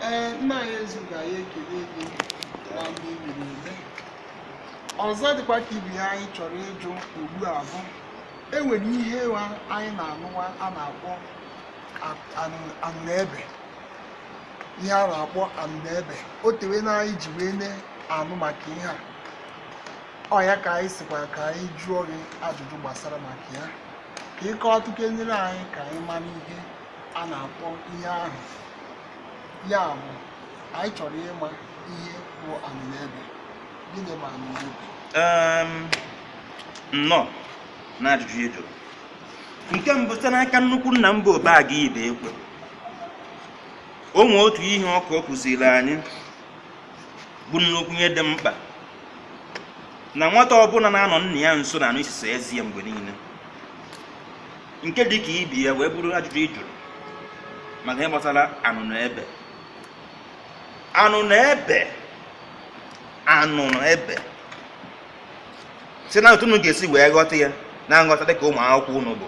ee nna anyị eze ugo anyị ekele gị na ndị mere eme ọzọ dịkwa ka ibe ya anyị chọrọ ịjụ ugbu a bụ enwere ihe wa anyị na-anụwa a na-akpọ anụnụebe ihe a na-akpọ anụnụebe o tewe na anyị ji wee na-anụ maka ihe a ọ ya ka anyị sịkwa ka anyị jụọ gị ajụjụ gbasara maka ya ka ị kọọtụkenere anyị ka anyị mara ihe a na-akpọ ihe ahụ ya bụ anyị chọrọ ịma ihe bụ anụnụebe gịnị bụ anụnụebe Em, nnọọ na ajụjụ ị jụrụ nke mbụ site n'aka nnukwu nna m bụ Obaga Ibekwe o nwee otu ihe ọ kụ ọ kụziri anyị bụ nnukwu ihe dị mkpa na nwata ọbụla na-anọ nna ya nso na-anụ isisi ezi ya mgbe niile nke dị ka ibe ya wee bụrụ ajụjụ ị jụrụ maka ihe gbasara anụnụebe anụnụebe anụnụebe si na otu unu ga-esi wee ghọta ya na nghọta dịka ụmụ akwụkwọ unu bụ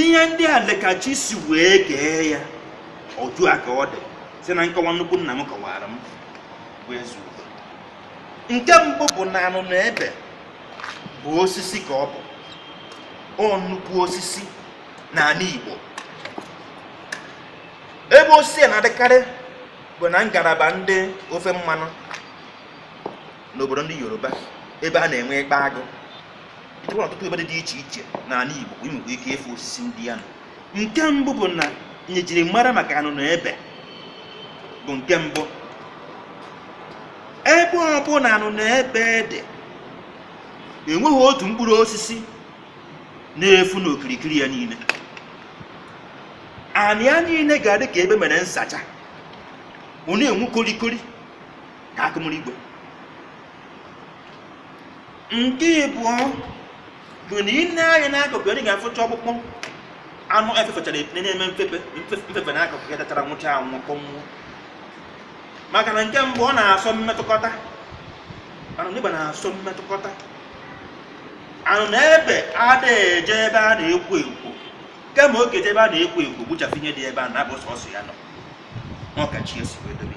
ihe ndị a lee ka chi si wee kee ya otu a ka ọ dị si na nkọwa nnukwu nna m kọwara m bụ eze ugo nke mbụ bụ na anụnụebe bụ osisi ka ọ bụ ọ nnukwu osisi n'anị Igbo ebe osisi a na-adịkarị bụ na ngalaba ndị ofe mmanụ n'obodo ndị Yoruba ebe a na-enwe ikpa agụ enwere ọtụtụ ebe dị dị iche iche n'anị Igbo i nwere ike ịfụ osisi ndị ya nọ nke mbụ bụ na ihe e jiri mara maka anụnụebe bụ nke mbụ ebe ọbụla anụnụebe dị enweghị otu mkpụrụ osisi na-efu n'okirikiri ya niile anị ya niile ga-adị ka ebe e mere nsacha ọ na-enwu korikori ka akụ mmiri igwe nke ịbụọ bụ na i nee anya n'akụkụ ya, ị ga-afụcha ọkpụkpụ anụ efefechara na-eme mfefe n'akụkụ ya dachara nwụcha anwụ kpọnwụọ maka na nke mbụ ọ na-asọ mmetụkọta anụnụebe na-asọ mmetụkọta anụnụebe ada eje ebe a na-ekwo ekwo kama ọ ga-eje ebe a na-ekwo ekwo gbuchafụ ihe dị ebe a na-abụ sọsọ ya nọ ọ ka chi si wee dobe